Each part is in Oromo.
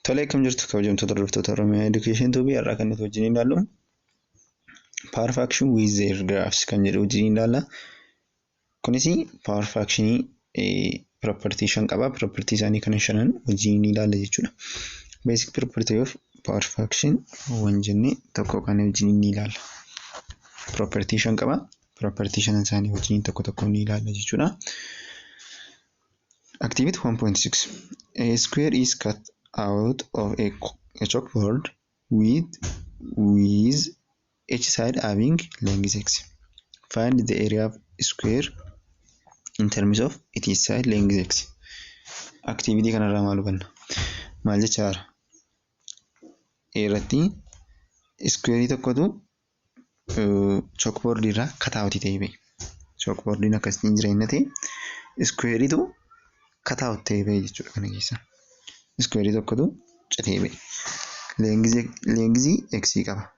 Tolee akkam jirtu kabajamtoota hordoftoota Oromiyaa Education Tube har'a kan nuti wajjin ilaallu power fraction with their graphs kan jedhu wajjin ilaalla. Kunis power fraction property shan qaba. Property isaanii kana shanan wajjin ilaalla jechuudha. Basic property of power fraction waan jenne tokko kan wajjin ni ilaalla. Property shan qaba. Property shanan isaanii wajjin tokko tokko ni ilaalla jechuudha. Activity 1.6 A square is cut out of a, a chalkboard with with each side having length x. Find the area of square in terms of its side length x. Activity kanarraa maal hubanna? Maal jechaara? A irratti iskuweerii tokkotu Chookboordii irraa kataawutii ta'ee ba'e. Chookboordiin akkasitti hin jireenya ta'e iskuweeriitu kataawut ta'ee ba'e jechuudha kana keessaa. Iskuweerii tokkotu citee ba'e. Leengizii eksii qaba.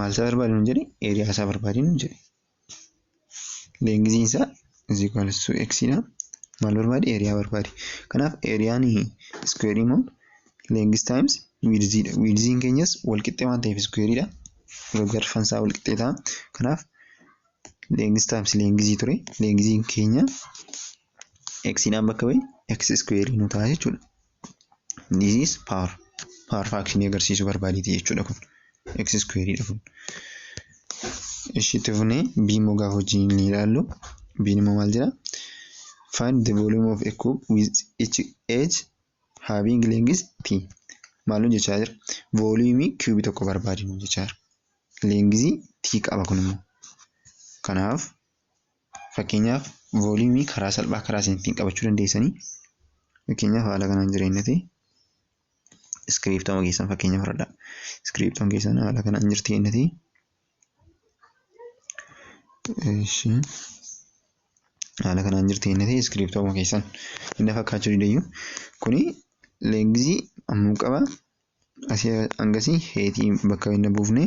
Maal isaa barbaadi nuun jedhe? Eeriyaa isaa barbaadi nuun jedhe. leengiziin isaa is equal to x dha. Maal barbaadi? Eeriyaa barbaadi. Kanaaf eeriyaan iskuweerii immoo leengis taayims wiidzii dha. Wiidziin keenyas walqixxee waan ta'eef iskuweerii dha. Gargarfan isaa walqixxee ta'a. Kanaaf leengis taayims leengizii ture. Leengiziin keenya x dhaan bakka bu'e x iskuweerii nu ta'a jechuudha. this is power power faction agarsiisuu barbaaditi jechuudha kun x square dha kun ishiitti fune b immoo gaafa wajjin ni ilaallu b immoo maal jedha find the volume of a cube with each edge having length t maal nu jechaa jira vooliyumii kiubii tokko barbaadinu jechaa jira leengizii t qaba kun immoo kanaaf Fakkeenyaaf vooliyumii karaa salphaa karaa isin ittiin qabachuu dandeessanii fakkeenyaaf haala kanaan jireenyati iskiriiptama keessan fakkeenya fudhadha. Iskiriiptoon keessan haala kanaan jirti jennati. Haala kanaan jirti jennati iskiriiptooma keessan inni fakkaachuu didayyu kuni leengizii ammuu qaba asii hangasii heetii bakka inni buufne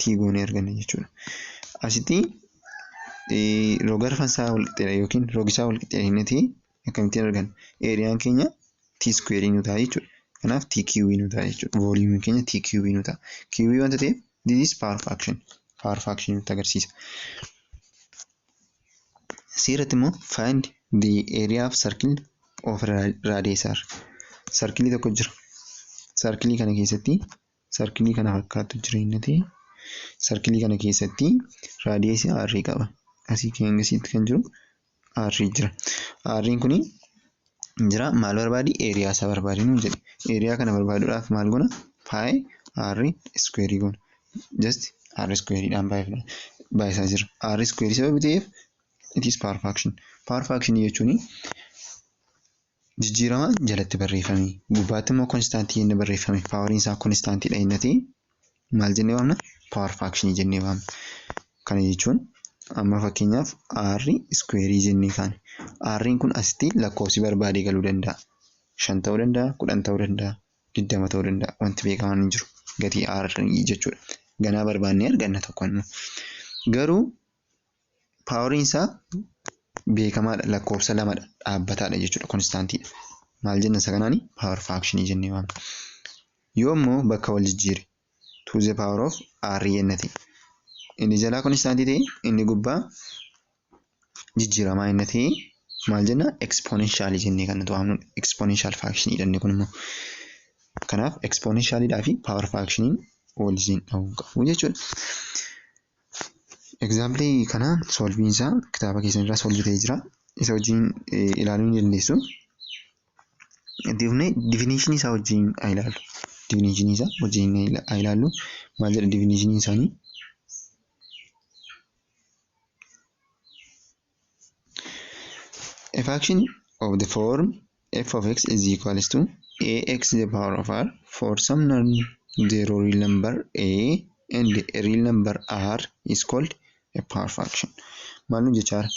tii goonee arganna jechuudha. Asitti rogarfan isaa walqixxeedha yookiin rogisaa walqixxeedha inni tii akkamittiin arganna? Eeriyaan keenya tii iskuweerii nu ta'a jechuudha. Kanaaf tii kiiwii nu ta'a jechuudha. Vooliyuumiin keenya tii kiiwii nu ta'a. Kiiwii wanta ta'eef this is power fraction. Power fraction nutti agarsiisa. Asii irratti immoo find the area of circle of radius r. Sarkilii tokko jira. Sarkilii kana keessatti sarkilii kana fakkaattu jira innati sarkilii kana keessatti raadiyeesii aarrii qaba asii keengisiitti kan jiru aarrii jira aarriin kun jira maal barbaadi eeriyaa isaa barbaadi nuun jedhe eeriyaa kana barbaaduudhaaf maal gona paayee aarrii iskuweerii gona just aarri iskuweeriidhaan baay'isaa jira aarri iskuweerii sababa ta'eef it is power faction power faction jechuun Jijjiirama jalatti barreeffame. Gubbaatti immoo konstaantii jennee barreeffame. Paawariin isaa konstaantiidha jennee ta'e maal jennee waamna? Paawar faakshinii jennee waamna. Kana jechuun amma fakkeenyaaf R iskuweerii jennee kaane. R'n kun asitti lakkoofsi barbaade galuu danda'a. Shan ta'uu danda'a, kudhan ta'uu danda'a, digdama ta'uu danda'a. Wanti beekamaan hin jiru. Gatii R jechuudha. Ganaa barbaannee arganna tokko immoo. Garuu paawariin isaa beekamaadha lakkoofsa lamadha dhaabbataadha jechuudha konstaantiidha. Maal jenna isa kanaani paawar faakshinii jennee waamna. Yoo immoo bakka wal jijjiire to the power of r jenna ta'e inni jalaa konstaantii ta'e inni gubbaa jijjiiramaa inni ta'e maal jenna ekspoonenshaalii jennee kan nuti waamnudha. Ekspoonenshaal faakshinii jennee kun immoo kanaaf ekspoonenshaaliidhaa fi paawar faakshiniin wal jijjiin dhahuu qabu jechuudha. Egzaampilii kana solviin isaa kitaaba keessan irraa solvi ta'ee jira. Isa wajjin ilaaluu ni dandeessu. Itti fufnee difinishinii isaa wajjin haa ilaallu. Difinishinii isaa wajjin haa ilaallu. Maal jedha difinishinii isaanii? A fraction of the form f of x is equals to ax to the power of r for some non-zero real number a and a real number r is called a power fraction. Maal nu jechaa jira?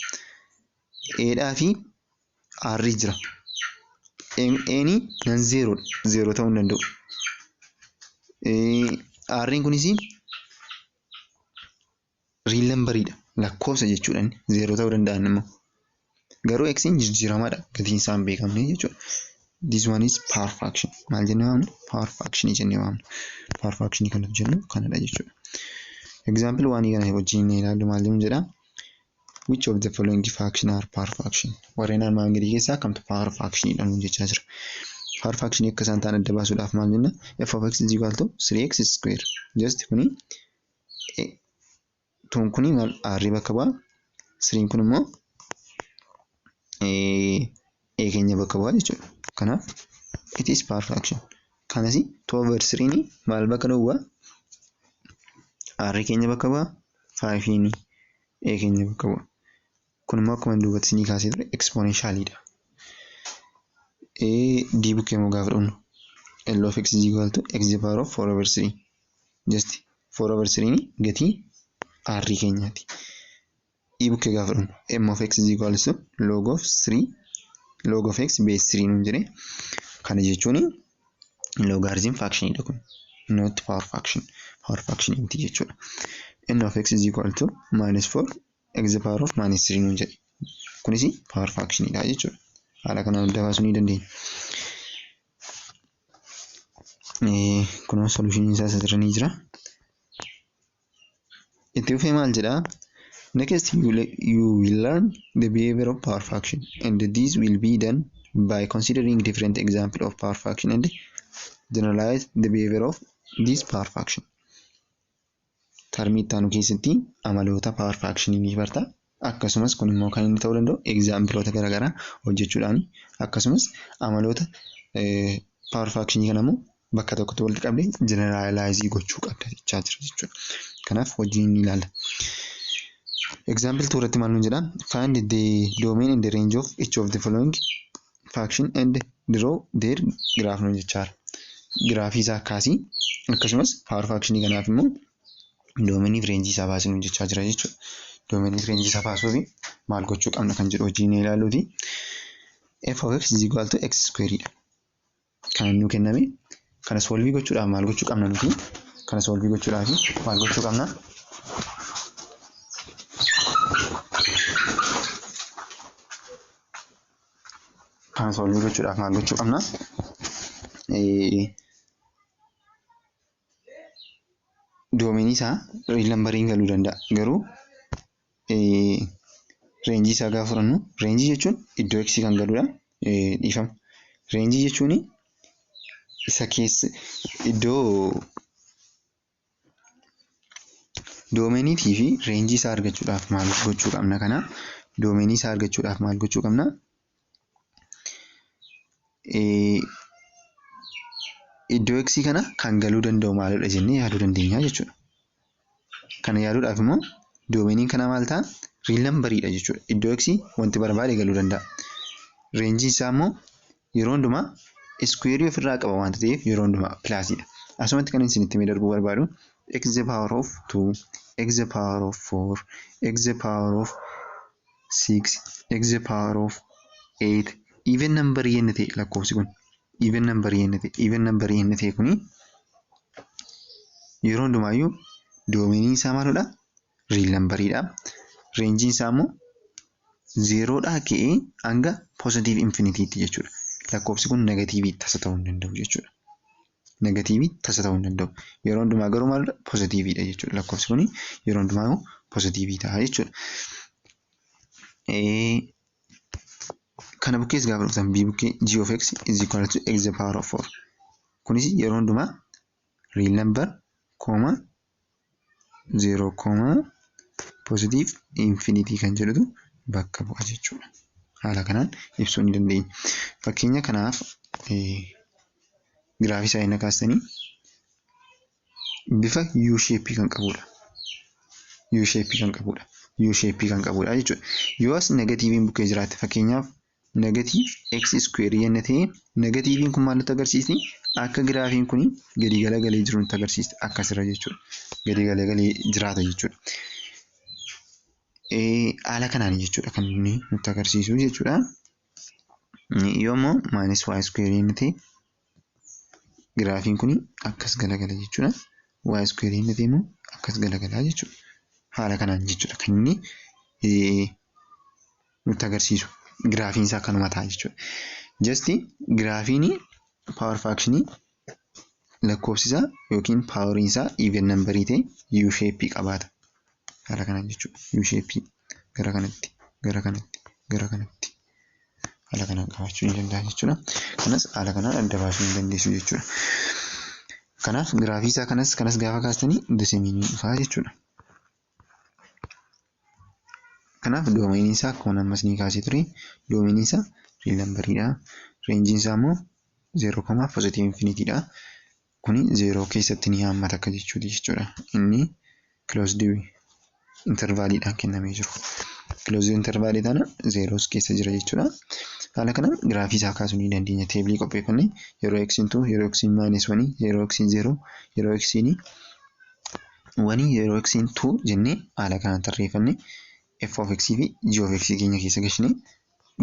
Eedhaa fi aarrii jira. Eeni nan zeeroodha. Zeeroo ta'uu hin danda'u. Aarriin kunis riil nambariidha lakkoofsa jechuudha inni zeeroo ta'uu danda'a inni immoo garuu eksiin jijjiiramaadha gatiin isaa hin beekamne jechuudha. This one is power fraction maal jennee waamna power fraction jennee waamna power fraction kan nuti jennu kanadha jechuudha. Example waan kana wajjin inni ilaallu maal jennu jedha which of the following fraction are power fraction warreen armaan gadii keessaa kamtu power fraction dha nuun jechaa jira. Power fraction akka isaan ta'an adda baasuudhaaf maal jenna f of x is equal to 3x square just kuni tuun kun maal aarrii bakka bu'a siriin kun immoo ee keenya bakka bu'a jechuudha kanaaf it is power fraction kanas two over siriin maal bakka duwwa aarrii keenya bakka bu'a faayifiin ee keenya bakka bu'a Kun immoo akkuma duubatti isinii kaasee ture ekspoonenshaaliidha. d bukkee immoo gaafa dhufnu L of x is equal to x the power of 4 over 3. Just 4 over 3 ni gatii r keenyaati. e bukkee gaafa dhufnu m of x is equal to log of 3 log of x base 3 nuun jedhe. Kana jechuun logaariziim faakshiniidha kun. Not power faction. Power faction miti jechuudha. n of x is equal to minus 4 x the power of minus 3 nuun jedhe. Kunis power fraction dha jechuudha. Haala kanaan adda baasuu ni dandeenya. Kunoo solution isaa asirra ni jira. Itti fufee maal jedha? Next you will, you will learn the behavior of power fraction and this will be done by considering different example of power fraction and generalize the behavior of this power fraction. Tarmii itti aanu keessatti amaloota power fraction ni barta. Akkasumas kun immoo kan inni ta'uu danda'u exampleota garaagaraa hojjechuudhaan akkasumas amaloota power fraction kana immoo bakka tokkotti walitti qabdee generalize gochuu qabda jechaa jira jechuudha. Kanaaf hojii ni ilaalla. Example 2 irratti maal nuun jedha? Find the domain and the range of each of the following faction and draw their graph nu jechaara. Giraafii isaa kaasi akkasumas power faction kanaaf immoo doomeniif reenjii isaa baasii nu jechaa jira jechuudha. Doomeniif reenjii isaa baasuuf maal gochuu qabna kan jedhu hojii ni ilaaluuti. f of x is equal to x square dha. Kan nu kenname kana soolvii gochuudhaaf maal gochuu qabna nuti? Kana soolvii gochuudhaaf maal gochuu qabna? Kana soolvii gochuudhaaf maal gochuu qabna? Doominii isaa riil nambariin galuu danda'a garuu reenjii isaa gaafa fudhannu reenjii jechuun iddoo x kan galudha. Dhiifama. Reenjii jechuun isa keessa iddoo doomeniitii fi reenjii isaa argachuudhaaf maal gochuu qabna kana doomeenii isaa argachuudhaaf maal gochuu qabna? iddoo x kana kan galuu danda'u maalidha jennee yaaduu dandeenya jechuudha. Kana yaaduudhaaf immoo doomeeniin kana maal ta'a? Riil nambariidha jechuudha. Iddoo x wanti barbaade galuu danda'a. Reenjiin isaa immoo yeroo hundumaa iskuweerii ofirraa qaba waan ta'eef yeroo hundumaa pilaasiidha. Asumatti kan isinitti mee darbuu barbaadu x the power of 2 x the power of 4 x the power of 6 x the power of 8 even number yenna ta'e lakkoofsi kun even number yenna ta'e even number yenna ta'e kuni yeroo hundumaayyuu doomeniin isaa maalidha riil nambariidha reenjiin isaa immoo zeeroodhaa ka'ee hanga poozitiiv infinitiitti jechuudha lakkoofsi kun negatiivii tasa ta'uu hin danda'u jechuudha. Negatiivii tasa ta'uu hin danda'u. Yeroo hundumaa garuu maal pozitiiviidha jechuudha. Lakkoofsi kun yeroo hundumaa pozitiivii ta'a jechuudha. Kana bukkees gaafa dhuftan b bukkee g of x is equal to x the power of 4. Kunis yeroo hundumaa real number kooma 0 koomaa positive infinity kan jedhutu bakka bu'a jechuudha. Haala kanaan ibsuu ni dandeenya. Fakkeenya kanaaf giraafii saayina kaastanii bifa U shape kan qabudha. U shape kan qabudha. U shape kan qabudha jechuudha. Yoo as negatiiviin bukkee jiraate fakkeenyaaf Negative x square yenna ta'e negatiiviin kun maal nutti agarsiisti? Akka giraafiin kun gadi galagalee jiru nutti agarsiisti. Akkasirra jechuudha. Gadi galagalee jiraata jechuudha. Haala kanaan jechuudha kan inni nutti agarsiisu jechuudha. Yoommoo minus y square yenna ta'e Giraafiin kun akkas galagala jechuudha. Y square hin ta'e immoo akkas galagala jechuudha. Haala kanaan jechuudha kan inni nutti agarsiisu. Giraafiin isaa kanuma ta'a jechuudha. Jasti giraafiin paawar faakshinii lakkoofsi isaa yookiin paawariin isaa even nambarii ta'e U shape qabaata. Haala kanaan jechuudha. U shape gara kanatti gara kanatti gara kanatti. Haala kanaan qabaachuu ni danda'a jechuudha. Kanas haala kanaan adda baasuu ni dandeessu jechuudha. Kanaaf giraafii isaa kanas kanas gaafa kaastanii doseemiin ni dhufaa jechuudha. Kanaaf doomeenii isaa akkuma ammas ni kaasee ture doomeenii isaa riil nambariidha. Reenjiin isaa immoo zeeroo komaa pozitiivii infinitiidha. Kuni zeeroo keessatti ni haammata akka jechuuti jechuudha. Inni closed intervaaliidhaan kennamee jiru. Closed intervaalii tana zeeroos keessa jira jechuudha. Haala kanaan giraafii isaa kaasuu ni dandeenya. Teebilii qopheeffanne yeroo x intuu yeroo x maayinas wanii yeroo x zeeroo yeroo x wanii yeroo x intuu jennee haala kanaan tarreeffanne f of x fi g of x keenya keessa gashinee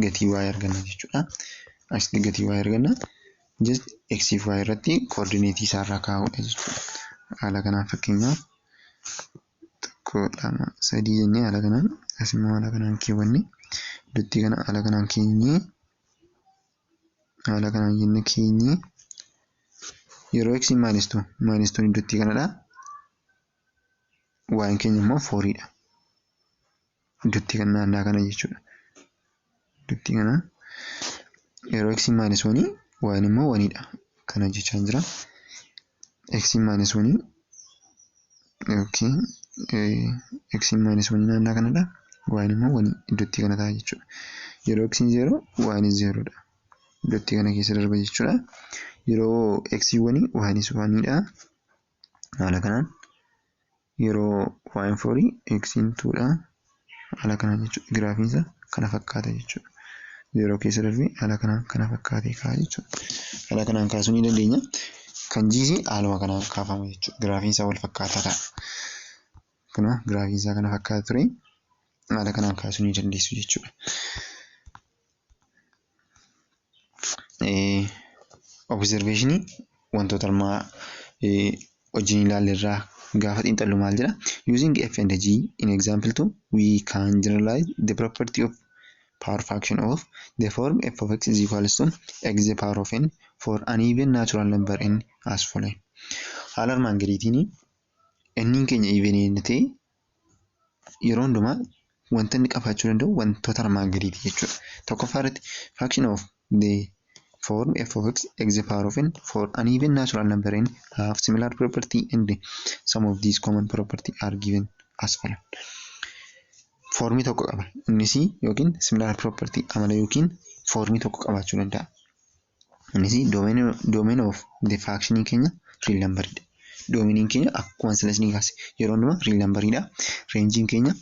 gatii y arganna jechuudha. Asitti gatii y arganna just x fi y irratti koordineetii isaa irraa kaa'uudha jechuudha. Haala kanaan fakkeenyaaf tokko lama sadii jennee haala kanaan as immoo haala kanaan keewwanne duttii kana haala kanaan keenyee haala kanaan jennee keenyee yeroo x maayinis tuu maayinis tuun duttii kanadha. Waan keenya immoo fooriidha. Dubtii kan naannaa kana jechuudha. Dubtii kana yeroo x maanis wanii waan immoo waniidha. Kana jechaan jira. x maanis wanii yookiin x maanis wanii naannaa kanadha. Waan immoo wanii iddootti kana ta'a jechuudha. Yeroo x zeeroo waanis zeeroodha. Iddootti kana keessa darba jechuudha. Yeroo x wanii waanis waniidha. Haala kanaan Yeroo y'n forii eksiin 2 dha haala kanaan jechuudha. Giraafiin isaa kana fakkaata jechuudha. 0 keessa darbee haala kanaan kana fakkaatee ka'a jechuudha. Haala kanaan kaasuu ni dandeenya. Kan G's haaluma kanaan kaafama jechuudha. Giraafiin isaa wal fakkaataa ta'a. Kana giraafiin isaa kana fakkaata ture. Haala kanaan kaasuu ni dandeessu jechuudha. Obizerveeshinii wantoota armaa wajjin ilaalle irraa gaafa xiinxallu maal jedha? Using F and G in example two we can generalize the property of power fraction of the form f of x is equal to x the power of n for an even natural number n as follows. Haala armaan gadiitiin n keenya even yoo ta'e yeroo hundumaa wanta inni qabaachuu danda'u wantoota armaan gadiiti jechuudha. Tokkoffaa irratti fraction of the form f of x x the power of n for an even natural number n have similar property and some of these common property are given as follow. Foormii tokko qaba. Innis yookiin similar property amala yookiin foormii tokko qabaachuu danda'a. Innis domain domain of the function keenya real number dha. Domain keenya akkuma sila isin kaase yeroo hundumaa real number dha. Range keenya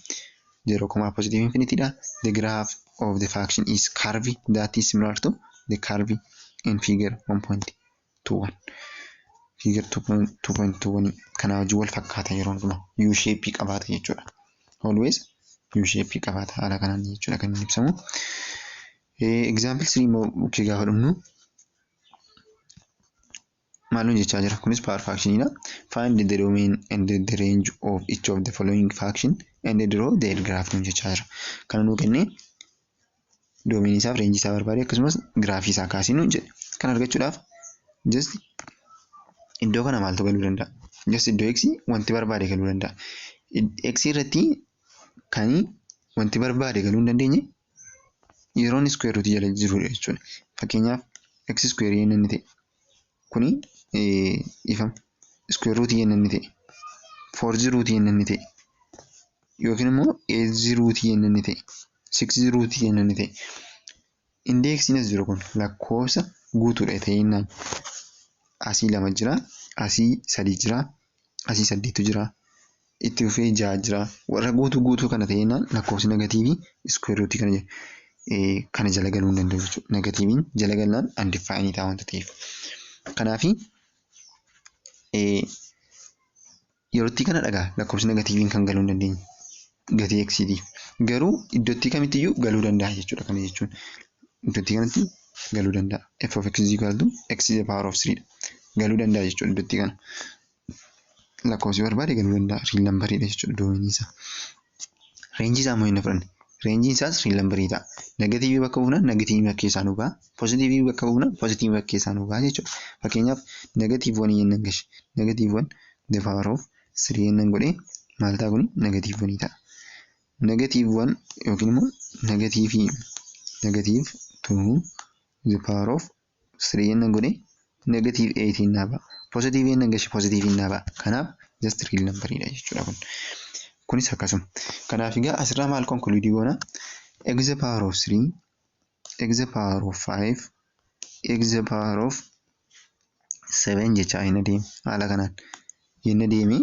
0, positive infinity dha. The graph of the function is curve that is similar to the curve in figure 1.21. Figure 2.21 kana wajjin wal fakkaata yeroo hundumaa U shape qabaata jechuudha. Always U shape qabaata haala kanaan jechuudha kan inni ibsamu. Example 3 immoo bukkee gaafa dhumnu maal nu jechaa jira? Kunis power faction dha. Find the domain and the range of each of the following faction and draw the L graph nu jechaa jira. Kana nuu kennee domain isaaf reenjii isaa barbaade akkasumas giraafii isaa kaasii nu jedhe. Kana argachuudhaaf just iddoo kana maaltu galuu danda'a? Just iddoo x wanti barbaade galuu danda'a. X irratti kan wanti barbaade galuu hin dandeenye yeroon iskuweer ruutii jala jirudha jechuudha. Fakkeenyaaf x iskuweerii yenna inni ta'e kuni ifama iskuweer ruutii yenna inni ta'e foorzii ruutii yenna inni ta'e yookiin immoo eetzii ruutii yenna inni ta'e siksii ruutii yenna inni ta'e indeeksiin as jiru kun lakkoofsa guutuudha ta'inaan asii lama jira asii sadii jira asii saddeetu jira. itti fufee ja'a jira. Warra guutuu guutuu kana ta'ee jennaan lakkoofsi negatiivii iskuweer ruutii kana jala eh, kana jala galuu hin danda'u jechuudha. Negatiiviin jala galnaan andifaayinii ta'a wanta ta'eef. Kanaafi eh, yerootti kana dhagaa lakkoofsi negatiiviin kan galuu hin dandeenye gatii eksiitiif. Garuu iddootti kamittiyyuu galuu danda'a jechuudha kana jechuun. Iddootti kanatti galuu danda'a. F of x is equal to x is the power of 3 dha. Galuu danda'a jechuudha iddootti kana. lakkoofsi barbaade galuu danda'a riil nambariidha jechuudha doominii isaa. Reenjii isaa immoo hin fudhanne. Reenjiin isaas riil nambarii ta'a. Negatiivii bakka buufnaan negatiivii bakka keessaa nu ba'a. Pozitiivii bakka buufnaan pozitiivii bakka keessaa nu ba'a jechuudha. Fakkeenyaaf negatiivii wanii yennan gashe. Negatiivii wan the power of sirii yennan godhee maal ta'a kuni negatiivii wanii ta'a. Negatiivii wan yookiin immoo negatiivii negatiivii tuu the power of 3 jennaan godhe negative 8 innaa ba'a. Positive jennaan gashi positive innaa ba'a. Kanaaf just real number dha jechuudha kun. Kunis akkasuma. Kanaaf egaa asirraa maal conclude goona? x the power of 3 x the power of 5 x the power of 7 jechaa hin adeemu haala kanaan. Jenna deemee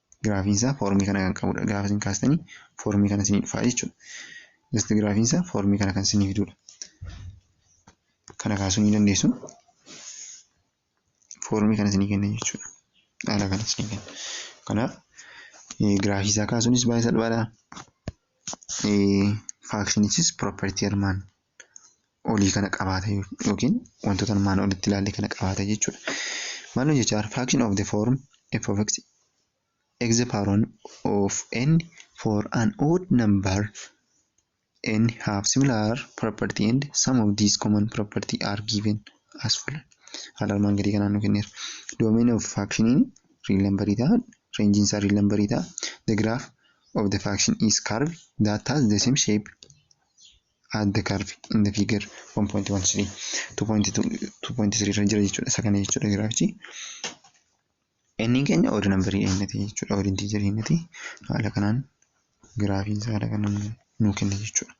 Giraafiin isaa foormii kana kan qabudha. Gaafa isin kaastanii foormii kana isinii dhufaa jechuudha. Just giraafiin isaa foormii kana kan isinii fidudha. Kana kaasuu ni dandeessu. Foormii kana isinii kenna jechuudha. Haala kana isinii kenna. Kanaaf giraafii isaa kaasuunis baay'ee salphaadha. Faakshinichis piroopartii armaan olii kana qabaata yookiin wantoota armaan olitti ilaalle kana qabaata jechuudha. Maaloo jechaar fraction of the form f of x x the power one of n for an odd number n have similar property and some of these common property are given as follows. Haala armaan gadii kanaan nu kenneera. Domain of fraction real number ta'a. Range isaa real number ta'a. The graph of the fraction is curve that has the same shape at the curve in the figure 1.13 2.3 irra jira jechuudha isa kana jechuudha giraafichi inni keenya odu nambarii eenyati jechuudha odu intiijarii eenyati haala kanaan giraafiin isaa haala kanaan nuu kenna jechuudha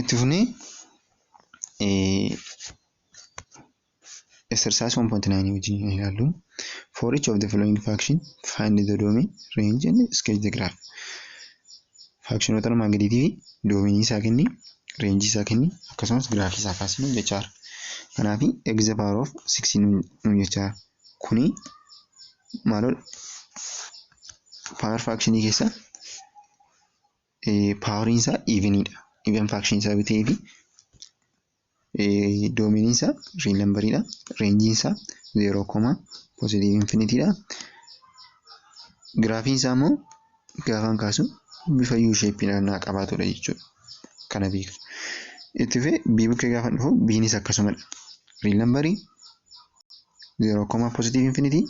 itti funee Exercise 1.9 wajjin hin ilaallu. For each of the following faction, find the domain, range and sketch the graph. Faakshinoota armaan gadiitii fi doominii isaa kenni, reenjii isaa kenni, akkasumas giraafii isaa kaasi nuun jechaa jira. Kanaaf x the power of 6 nuun jechaa jira. Kuni maaloo power faakshinii keessa paawariin isaa iiviniidha. Iiven faakshinii isaa bitee fi Doomeniin isaa riil nambariidha. Reenjiin isaa zeeroo koma poozitiivii infinitiidha. Giraafiin isaa immoo gaafaan kaasu bifa yuu sheeppii naannaa qabaatudha jechuudha. Kana beektu. Itti fufee bii bukkee gaafa dhufu biinis akkasumadha. Riil nambarii zeeroo koma poozitiivii infiniti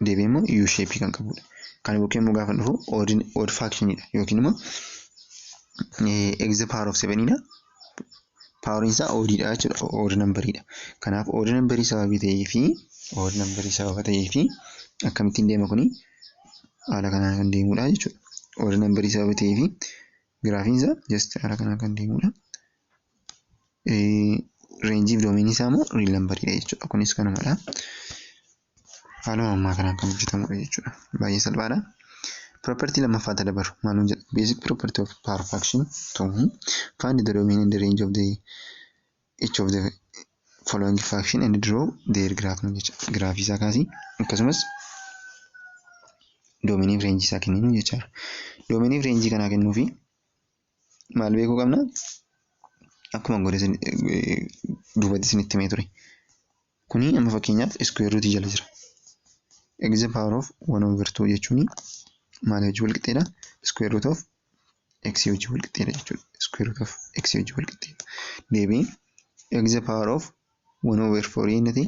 deebi'ee immoo u shape kan qabudha. Kana bukkee immoo gaafa dhufu odd odd fraction dha yookiin immoo x the power of 7 dha. Poweriin isaa odd dha jechuudha. Odd number dha. Kanaaf odd number sababii ta'ee fi odd number sababa ta'ee fi akkamittiin deema kuni haala kanaan kan deemudha jechuudha. Odd number sababa ta'ee fi giraafiin isaa just haala kanaan kan deemudha. reenjii fi doomiinii isaa immoo riil nambariidha jechuudha. Kunis kanumadha. Haaluma ammaa kanaan kan hojjetamudha jechuudha. Baay'ee salphaadha. Property lammaffaa ta dabaru maaluma jedha? Basic property of power fraction to find the domain and the range of the each of the following fraction and draw their graph nu jecha. Giraafii isaa kaasii akkasumas doomiinii fi reenjii isaa kenninu jechaadha. Doomiinii fi reenjii kanaa kennuufi maal beekuu qabna akkuma godhe duubatti isinitti himee ture kuni amma fakkeenyaaf iskuweer ruutii jala jira eegze paawar oof wan oover tuu jechuun maal hojii wal qixxeedha iskuweer ruut oof eeksii hojii wal qixxeedha jechuudha iskuweer ruut oof eeksii hojii wal qixxeedha deebiin eegze paawar oof wan oover foorii inni ta'e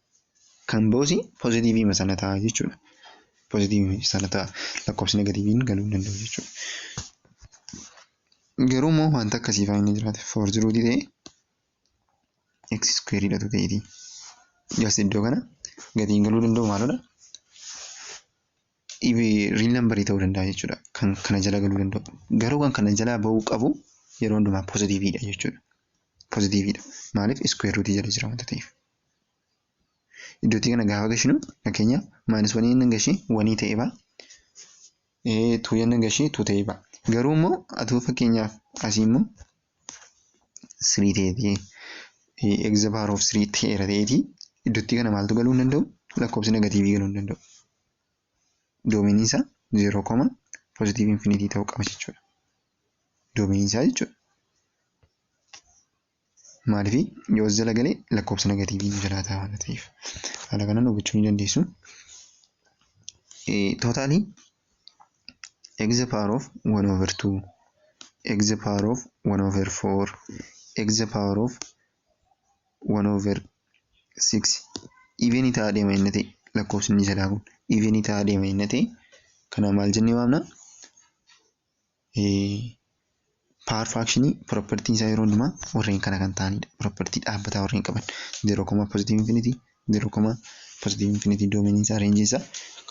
Kan boos pozitiiviima sana ta'a jechuudha. Pozitiiviima sana ta'a. Lakkoofsi negatiiviin galuu hin danda'u jechuudha. Garuu immoo wanta akkasii fa'aa inni jiraate foorzi ruutii ta'e x iskuweeriidhatu ta'eeti. Jas iddoo kana gatiin galuu danda'u maalodha? Riil nambarii ta'uu danda'a jechuudha. Kan kana jala galuu danda'u. Garuu kan kana jalaa ba'uu qabu yeroo hundumaa pozitiiviidha jechuudha. Pozitiiviidha. Maaliif iskuweer ruutii jala jira wanta ta'eef. iddootii kana gaafa gashinu fakkeenya maayinas wanii inni gashee wanii ta'ee ba'a. Tuu inni gashee tuu ta'ee ba'a. Garuu immoo atuu fakkeenyaaf asii immoo sirii ta'eetii egza paawar of sirii ta'eera ta'eetii iddootii kana maaltu galuu hin danda'u lakkoofsi negatiivii galuu hin danda'u. Doomiinii isaa zeeroo koma poozitiivii infinitii ta'uu qaba jechuudha. Doomiinii isaa jechuudha. Maaliif yoo as jala galee lakkoofsa negatiivii nu jalaa ta'a waan ta'eef. Haala kanaan hubachuu ni dandeessu. Tootaalii x the power of 1 over 2 x the power of 1 over 4 x the power of 1 over 6 even ta'aa deema inni ta'e lakkoofsi inni jalaa kun even ta'aa deema inni ta'e kana maal jennee waamna Paawar firaakshini piropertiin isaa yeroo hundumaa warreen kana kan ta'anidha. Piropertii dhaabbataa warreen qaban. Zeeroo koma pozitiiv infinitii, zeeroo koma pozitiiv infinitii doomeeniin isaa reenjiin isaa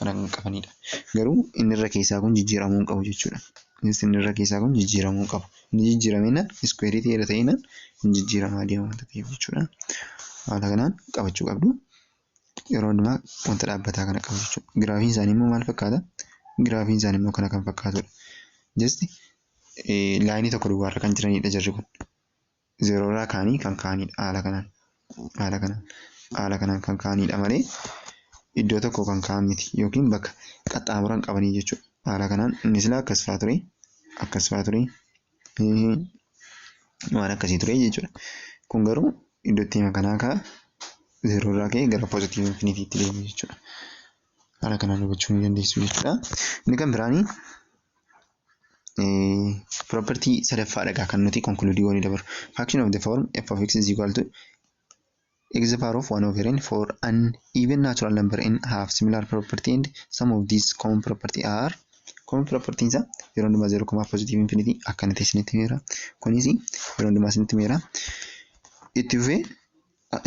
kana kan qabanidha. Garuu inni irra keessaa kun jijjiiramuu hin qabu jechuudha. Innis inni irra keessaa kun jijjiiramuu hin qabu. Inni jijjiirameenna iskuweerii ta'eera ta'eenna hin jijjiiramaa deema wanta ta'eef jechuudha. Haala kanaan qabachuu qabdu. yeroo hundumaa wanta dhaabbataa kana qabu jechuudha. Giraafiin isaanii immoo maal fakkaata? Giraafiin isaanii immoo kana kan fakkaatudha. Just laayinii tokko duwwaarra kan jiranidha jarri kun. Zeeroorraa kaanii kan kaanidha haala kanaan. Haala kanaan haala kanaan kan kaanidha malee iddoo tokko kan kaan miti yookiin bakka qaxxaamuran qabanii jechuudha. Haala kanaan inni silaa akkas fa'aa ture akkas fa'aa ture waan akkasii ture jechuudha. Kun garuu iddoo itti hima kanaa kaa zeeroo irraa ka'ee gara poozitiivii infiniitiitti deemu jechuudha. Haala kanaan hubachuu ni dandeessu jechuudha. Inni kan biraanii property sadaffaa dhagaa kan nuti konkuluudii goonee dabaru. Faction of the form f of x is equal to X the power of 1 over n for an even natural number n have similar property and some of these common property are common property isa yeroo hundumaa 0 komaa positive infinity akkana ta'e isinitti meera kunis yeroo hundumaa isinitti meera itti fufee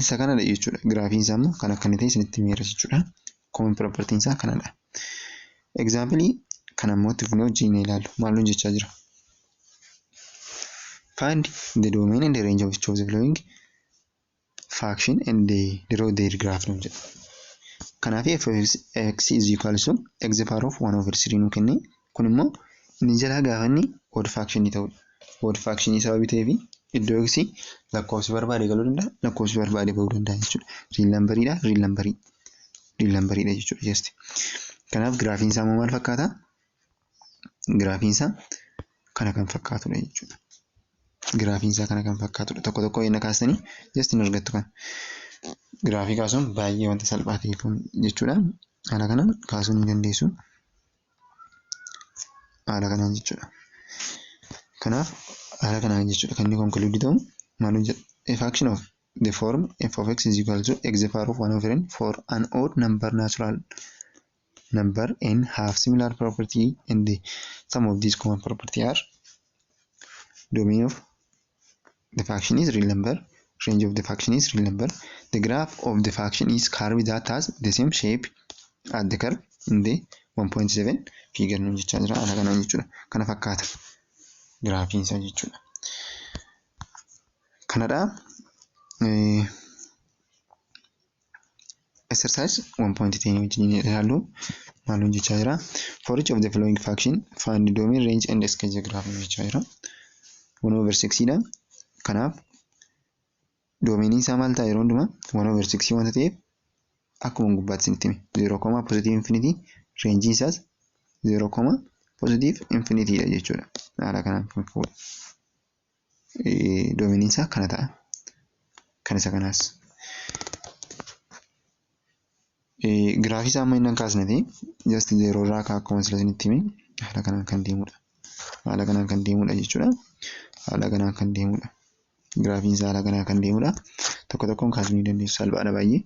isa kanadha jechuudha giraafiin isaa immoo kan akkana ta'e isinitti meera jechuudha common property isaa kanadha example kana immoo itti fufnee wajjin ilaallu maal nuun jechaa jira Find the domain and the range of each of the following faction and the draw their graph nu jedha. Kanaaf f of x is equal to x the power of 1 over 3 nu kenne. Kun immoo inni jalaa gaafa inni odd faction ta'udha. Odd faction sababii ta'eef iddoo x lakkoofsi barbaade galuu danda'a lakkoofsi barbaade ba'uu danda'a jechuudha. Riil nambariidha riil nambarii riil nambariidha jechuudha jasti. Kanaaf giraafiin isaa immoo maal fakkaata? Giraafiin isaa kana kan fakkaatudha jechuudha. Giraafiin isaa kana kan fakkaatudha. Tokko tokko eenna kaastanii just hin argattu kana. Giraafii kaasuun baay'ee wanta salphaa ta'e kun jechuudha. Haala kanaan kaasuu ni dandeessu. Haala kanaan jechuudha. Kanaaf haala kanaan jechuudha kan inni konkuluudii ta'u maal hojjeta? A fraction of the form f of x is equal to x the power of 1 over n for an odd number natural number n have similar property and the sum of these common property are domain of the function is real number range of the function is real number the graph of the function is curve that has the same shape at the curve in the 1.7 figure nu jechaa jira haala kanaan jechuudha kana fakkaata giraafiin isaa jechuudha kanadha exercise 1.10 wajjin ilaallu maalun jechaa jira for each of the following faction find domain range and scale diagram jechaa jira 1 over 6 dha kanaaf doomeenii isaa maal ta'a yeroo hundumaa 1 over 6 wanta ta'eef akkuma gubbaatti isinitti hime 0 koma positive infinity reenjii isaas 0 koma positive infinity dha jechuudha haala kanaan kan fuudha. doomeniin isaa kana ta'a. Kan isa kanaas. Giraafii isaa amma inni hin kaasneti just zeeroo irraa akka akkuma sila isinitti hime haala kanaan kan deemudha. Haala kanaan kan deemudha jechuudha. Haala kanaan kan deemudha. Giraafiin isaa haala kanaan kan deemudha. Tokko tokkoon kaasuu ni dandeessu salphaadha baay'ee.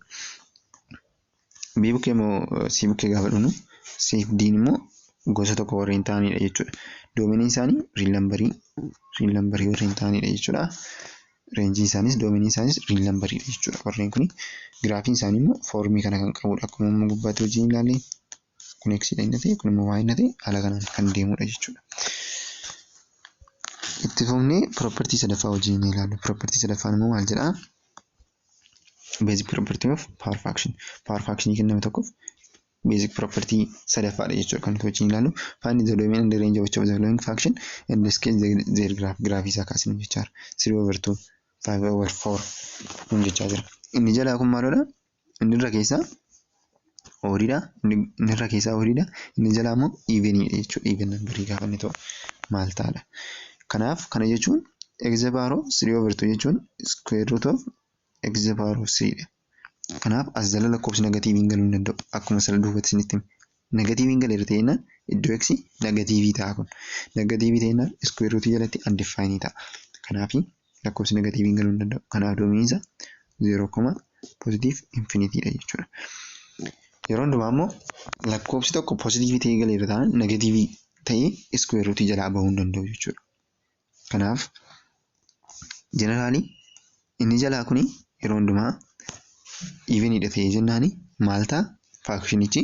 B bukkee immoo C bukkee gaafa dhufnu C fi D immoo gosa tokko warreen ta'anidha jechuudha. Doomeniin isaanii riil nambarii riil nambarii warreen ta'anidha jechuudha. Reenjiin isaaniis doomeniin isaaniis riil nambariidha jechuudha. Warreen kun giraafiin isaanii immoo foormii kana kan qabudha. Akkuma amma gubbaatti wajjin ilaalle kun x dha inni ta'e kun immoo y inni ta'e haala kanaan kan deemudha jechuudha. Itti fufnee piroopartii sadaffaa wajjin ni ilaallu. Piroopartii sadaffaan immoo maal jedhaa? Basic property of power fraction. Power fraction kenname tokkoof basic property sadaffaadha jechuudha kan nuti wajjin ilaallu. Find the domain and the range of each of the following fraction and the scale the, their graph. Graafii isaa kaasinu jechaa jira. 3 over 2, 5 over 4 nun jechaa jira. Inni jalaa kun maalodha? Inni irra keessaa oodiidha inni irra keessaa oodiidha inni jalaa immoo iiveniidha jechuudha iiven nambarii gaafa inni ta'u maal ta'adha kanaaf kana jechuun egze baaroo sirii overtuu jechuun iskuweer ruut of egze baaroo siriidha kanaaf as jala lakkoofsi negatiiviin galuu hin danda'u akkuma sana duubatti isinitti hime negatiiviin galeera ta'e jennaan iddoo eksi negatiivii ta'a kun negatiivii ta'e jennaan iskuweer ruutii jalatti andifaayinii ta'a kanaafi lakkoofsi negatiiviin galuu hin danda'u. Kanaaf doomiinsa zeeroo koma pozitiiv infinitiidha jechuudha. Yeroo hundumaa immoo lakkoofsi tokko pozitiivii ta'ee galeera ta'an negatiivii ta'ee iskuweer ruutii jalaa bahuu hin danda'u jechuudha. Kanaaf jeneraalii inni jalaa kuni yeroo hundumaa iiviniidha ta'ee jennaani maal ta'a faakshinichi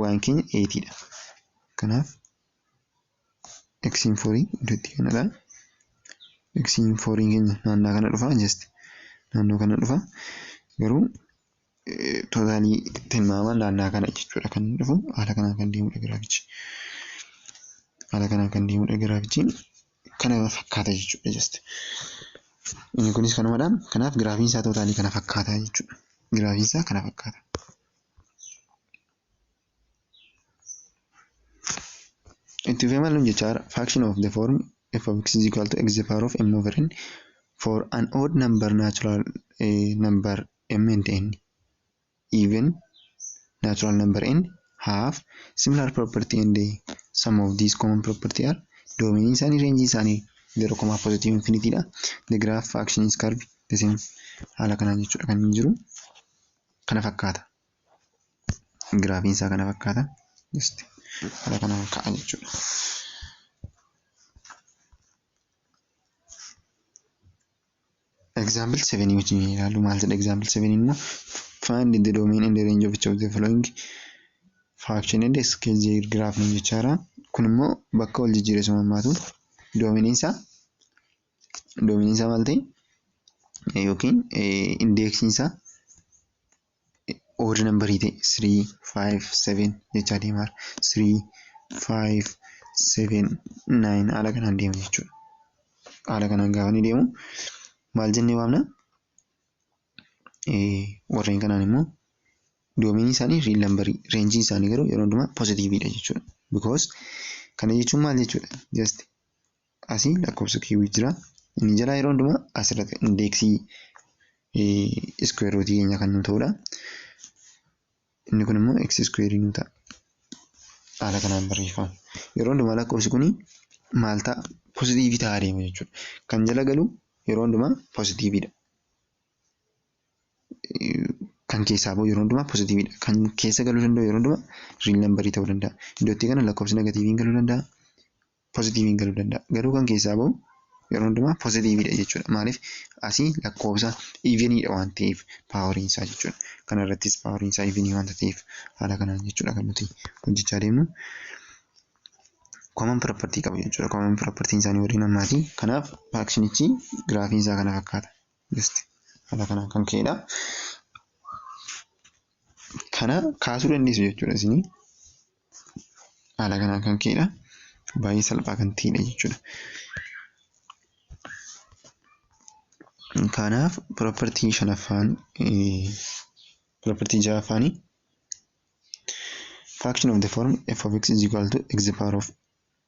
waan keenya 8 dha. Kanaaf xn 4 iddoo itti kennadha. xn 4 keenya naannaa kana dhufa just naannoo kana dhufa garuu tootaalii tilmaamaan naannaa kana jechuudha kan inni dhufu haala kanaan kan deemudha giraafichi. Haala kanaan kan deemudha giraafichi kana fakkaata jechuudha just. Inni kunis kanumadha kanaaf giraafiin isaa tootaalii kana fakkaata jechuudha. Giraafiin isaa kana fakkaata. Itti fufee maal nuun jechaa jira? Faction of the form f of x is equal to x the power of m over n for an odd number natural eh, number m and n even natural number n have similar property and eh, some of these common property are domain isaanii range isaanii zero comma positive infinity dha. The graph faction is curved the same haala kanaan jechuudha kan inni jiru. kana fakkaata. Giraafiin isaa kana fakkaata. Just haala kanaan ka'a jechuudha. Example 7 wajjin ilaalu maal jedha example 7 immoo find the domain and the range of each of the following fraction and scale the graph jechaara. Kun immoo bakka wal jijjiiresuma hammaatu doominiin isaa doomiiniin isaa maal ta'e yookiin indeeksiin isaa odd number ta'e 3 5 7 jechaa deemaa jira 3 5 7 9 haala kanaan deema jechuudha haala kanaan gaafa ni deemu maal jennee waamna warreen kanaan immoo doomiinii isaanii riil nambarii reenjiin isaanii garuu yeroo hundumaa pozitiiviidha jechuudha because kana jechuun maal jechuudha just Asi lakkoofsa kiiwii jira. Inni jalaa yeroo hundumaa asirratti indeeksii iskuweer ruutii keenya kan nuu ta'udha. Inni kun immoo x iskuweerii nuu ta'a. Haala kanaan barreeffama. Yeroo hundumaa lakkoofsi kun maal ta'a? Pozitiivii ta'aa deema jechuudha. Kan jala galu yeroo hundumaa pozitiiviidha. Kan keessaa ba'u yeroo hundumaa pozitiiviidha. Kan keessa galuu danda'u yeroo hundumaa riil nambarii ta'uu danda'a. Iddoo itti kana lakkoofsi negatiiviin galuu danda'a. pozitiiviin galuu danda'a. Garuu kan keessaa ba'u yeroo hundumaa pozitiiviidha jechuudha. Maaliif asii lakkoofsa iiviniidha waan ta'eef paawariin isaa jechuudha. Kana irrattis paawariin isaa iivinii waanta ta'eef haala kanaan jechuudha kan nuti hojjechaa deemnu. Common property qabu jechuudha. Common property isaanii waliin ammaati. Kanaaf faankshinichi giraafiin isaa kana fakkaata. Just haala kanaan kan ka'edha. Kana kaasuu dandeessu jechuudha isinii. haala kanaan kan ka'edha. Baay'ee salphaa kan ta'edha jechuudha. Kanaaf piroopartii shanaffaan piroopartii ja'affaani faction of the form f of x is equal to x the power of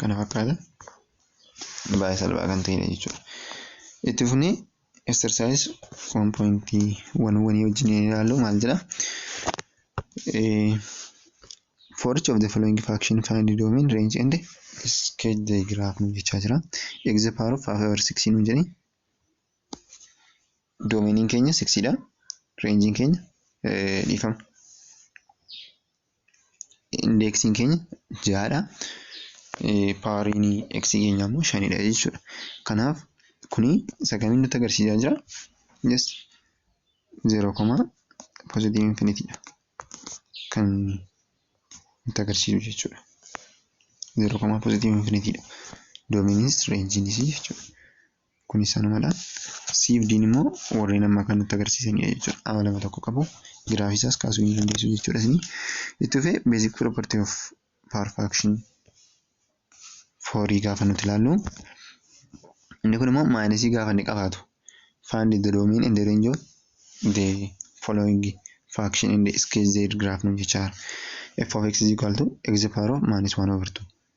kana fakkaata baay'ee salphaa kan ta'edha jechuudha. Itti fufnee exercise 1.1 wanii wajjin yoo ilaallu maal jedha? For each of the following fraction find the domain range and sketch the graph nu jechaa jira. X the power of 5 over 6 nu jedhee doomeniin keenya 6 dha. Reenjiin keenya dhiifama. Indeeksiin keenya ja'adha. Paawariin x keenya immoo shanidha jechuudha. Kanaaf kuni isa kamiin nutti agarsiisaa jira? Yes. Zeeroo koma poozitiivii infinitiidha. Kan nutti agarsiisu jechuudha. Zeeroo koma poozitiivii infinitiidha. Doomiinis reenjiinis jechuudha. Kunis sanumadha. C fi D'n immoo warreen amma kan nutti agarsiisanidha jechuudha. Amma lama tokko qabu. Giraafii isaas kaasuu ni dandeessu jechuudha isin. Itti fufee basic property of power fraction foorii gaafa nuti ilaallu. Inni kun immoo maayinasii gaafa inni qabaatu. Find the domain and the range of the following fraction in the sketch z graph nu jechaa f of x is equal to x power of minus 1 over 2.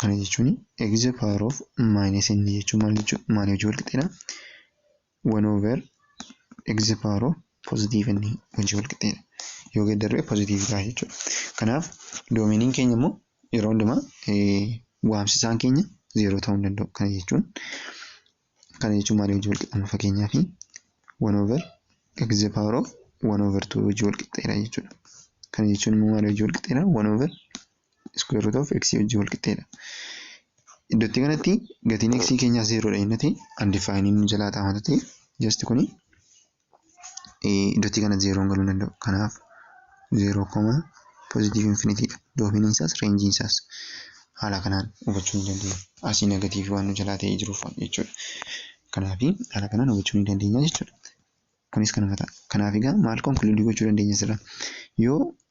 kana jechuun x the power of minus n jechuun maal jechuun maal hojii walqixxeedha 1 over x the power of positive n hojii walqixxeedha yoo geeddarree positive ta'a jechuudha kanaaf doomeniin keenya immoo yeroo hundumaa waamsisaan keenya zeeroo ta'uu hin danda'u kana jechuun kana jechuun maalii wajjin walqixxanna fakkeenyaaf 1 over x the power of 1 over 2 wajjin walqixxeera jechuudha. Kana jechuun immoo maalii wajjin walqixxeera 1 over square root of x wajjin walqixxeera. Iddootti kanatti gatiin x keenyaa zeeroodha jennee undefined nu jalaa taa'ama ta'e just kuni iddootti kana zeeroon galuu danda'u. Kanaaf zeeroo koma pozitiivii infinitiidha. Doomiiniin isaas reenjiin isaas haala kanaan hubachuu ni dandeenya. Asii negatiivii waan nu jalaa ta'ee jiruuf jechuudha. Kanaaf haala kanaan hubachuu ni dandeenya jechuudha. Kunis kanuma ta'a. Kanaaf egaa maal konkuluudii gochuu dandeenya asirraa? Yoo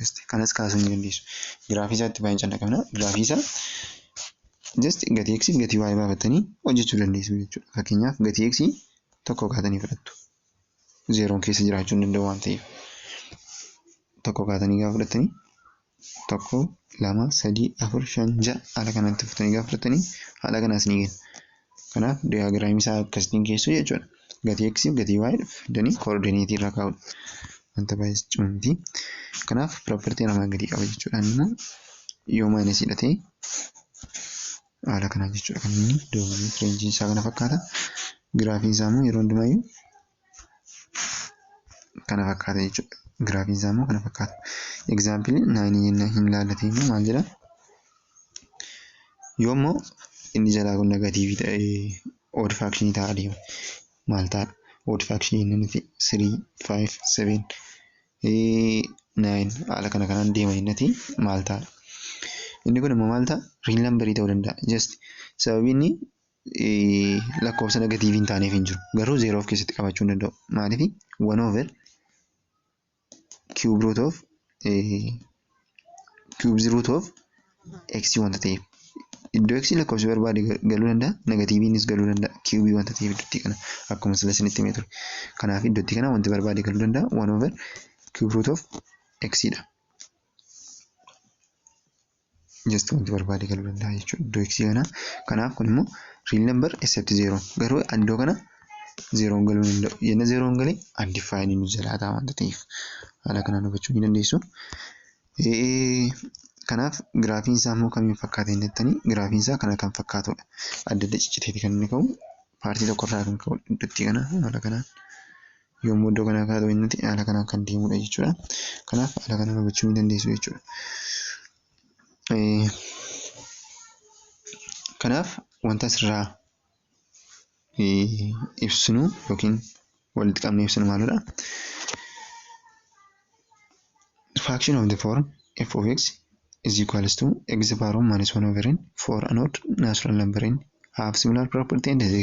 just kanas kaasuu ni dandeessu. Giraafii isaatti baay'een callaqamna. Giraafii isaa just gatii x fi gatii y baafattanii hojjechuu dandeessu jechuudha. Fakkeenyaaf gatii x tokko kaatanii fudhattu. Zeeroon keessa jiraachuu hin danda'u waan ta'eef. Tokko kaatanii gaafa fudhattanii tokko lama sadii afur shan ja'a haala kanatti fudhatanii gaafa fudhattanii haala kanaas ni kenna. Kanaaf diyaagiraamii isaa akkasitiin keessu jechuudha. Gatii x fi gatii y fidanii koordineetii irra kaa'udha. Wanta baay'ee cimaa miti. Kanaaf piroopartii armaan gadii qaba jechuudha. Inni immoo yoo maayinasii dha ta'e haala kanaan jechuudha kan inni doomanii fireenjiin isaa kana fakkaata. Giraafiin isaa immoo yeroo hundumayyuu kana fakkaata jechuudha. Giraafiin isaa immoo kana fakkaata. Egzaampilii naayinii jennaan hin laallatee immoo maal jedha? Yoo immoo inni jalaa kun negatiivii ta'ee ood faakshinii ta'a deema. Maal ta'a? Ood faakshinii inni nuti sirii, faayiv, seveen, naayin haala kana kanaan deema jennati maal ta'a? Inni kun immoo maal ta'a? Riil nambarii ta'uu danda'a. Just sababii inni lakkoofsa negatiivii hin taaneef hin jiru. Garuu zeeroo of keessatti qabachuu hin danda'u. Maaliif? One over cube root of cube root of x wanta ta'eef. Iddoo x lakkoofsi barbaade galuu danda'a. Negatiiviinis galuu danda'a. Cube wanta ta'eef iddootti kana akkuma sila isinitti himee ture. Kanaaf iddootti kana wanti barbaade galuu danda'a. One over cube root of x dha. just wanti barbaade galuu danda'a jechuudha iddoo x kana kanaaf kun immoo real number except zero garuu iddoo kana zeeroon galuu hin danda'u yenna zeeroon galee undefined nu jalaa ta'a wanta ta'eef haala kanaan hubachuu ni dandeessu. Kanaaf giraafiin isaa immoo kamiin fakkaata hin jettanii giraafiin isaa kana kan fakkaatudha. Adda adda cicciteeti kan inni ka'u paartii tokkorraa kan ka'u iddootti kana haala kanaan. Yommuu iddoo kanaa kaatu inniti haala kanaan kan deemudha jechuudha. Kanaaf haala kanaan hubachuu ni dandeessu jechuudha. Kanaaf wanta asirraa ibsinu yookiin walitti qabnee ibsinu maalidha? Fraction of the form f of x is equals to x power of minus 1 over n for an odd natural number n have similar property and the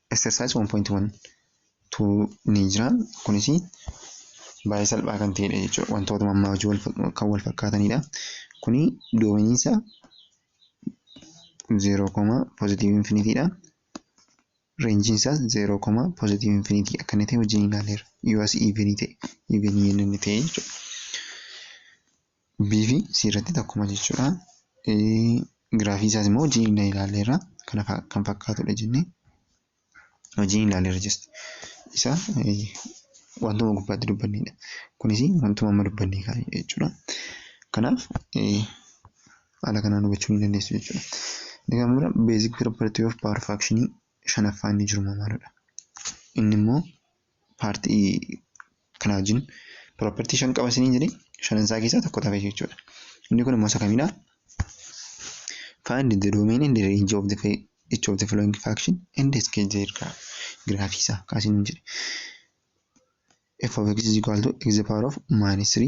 Exercise 1.1 ni jira. Kunis baay'ee salphaa kan ta'edha jechuudha. Wantoota ammaa hojii kan wal fakkaatanidha. Kuni doominiinsa 0, positive infinity dha. Reenjiin isaas 0, positive infinity akka inni ta'e wajjin ilaaleera. Yoo as even ta'e, even inni ta'e jechuudha. B fi C irratti takkuma jechuudha. Giraafii isaas immoo wajjin inni ilaalleerra kana kan fakkaatudha jennee wajjin ilaalleerra jesti. Isa wantuma gubbaatti dubbannedha. Kunis wantuma amma dubbannee kaanidha jechuudha. Kanaaf haala kanaan hubachuu ni dandeessu jechuudha. Inni kan bira beezik piroopartii of paawar faakshinii shanaffaa inni jiru maalidha? Inni immoo paartii kana wajjin property shan qaba isiniin jedhee shanan isaa keessaa tokko tafe jechuudha. Inni kun immoo isa kamidha? Find the domain and the range of the each of the following function and the scale their graph. Graafii isaa kaasiniin jedhe. f of x is equal to x the power of minus 3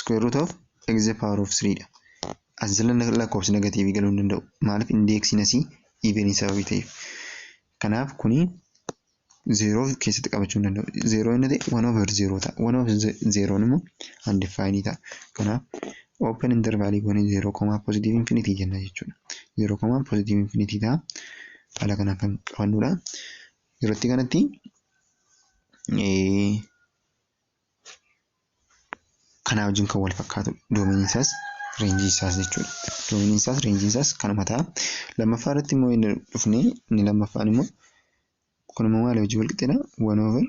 square root of x the power of 3 dha. As jala lakkoofsi negatiivii galuu hin danda'u. Maaliif indeeksiin asii even sababii ta'eef. Kanaaf kuni zeeroo keessatti qabachuu hin danda'u. Zeeroo inni ta'e one over zeeroo ta'a. One over zeeroon immoo undefined ta'a. Kanaaf open interval goone zeeroo komaa positive infinity jenna jechuudha. Zeeroo komaa positive infinity ta'a. Haala kanaan kan qabannudha. Yerootti kanatti kanaa wajjin kan wal fakkaatu doomiin isaas reenjii isaas jechuudha. Doomiin isaas reenjii isaas kanuma ta'a. Lammaffaa irratti immoo inni dhufne inni lammaffaan immoo kun immoo maal hojii wal qixxeedha? One over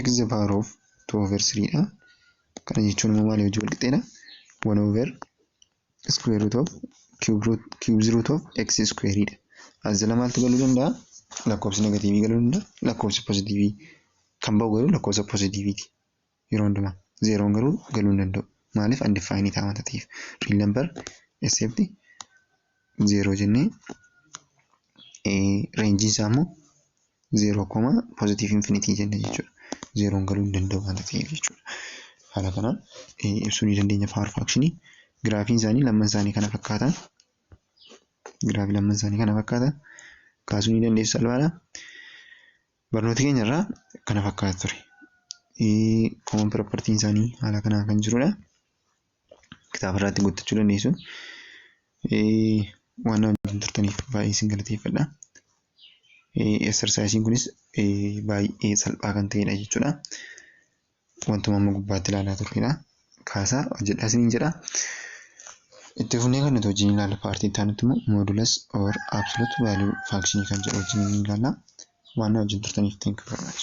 x the power of two over three dha. Kana jechuun immoo maal hojii wal qixxeedha? One over square root of cube root cubes root of x square dha. As jala maaltu galuu danda'a? Lakkoofsi negatiivii galuu danda'a. Lakkoofsi pozitiivii kan ba'u garuu lakkoofsa pozitiiviiti. Yeroo hundumaa zeeroon garuu galuu hin danda'u. Maaliif undefined ta'a wanta ta'eef. Real number except zeeroo jennee reenjiin isaa immoo 0 koma positive infinity jenna jechuudha. Zeeroon galuu hin danda'u waan ta'eef jechuudha. Haala kanaan ibsuu ni dandeenya power fraction giraafiin isaanii lamman isaanii kana fakkaata. Giraafii lamman isaanii kana fakkaata. Kaasuu ni dandeessu salphaadha. Barnoota keenya irraa kana fakkaata ture. Common property isaanii haala kanaan kan jirudha. kitaaba irratti guuttachuu dandeessu. Waan na wajjin turtaniif baay'ee isin galateeffadha. Eksarsaayisiin kunis baay'ee salphaa kan ta'edha jechuudha. Wantuma amma gubbaatti ilaalaa turredha. Kaasaa hojjedhaa isiniin jedha. Itti fufnee kan nuti wajjin ilaalla paartii itti aanutti immoo moodulus or absolute value function kan jedhu wajjin ni ilaalla. Waan na wajjin turtaniif thank you very much.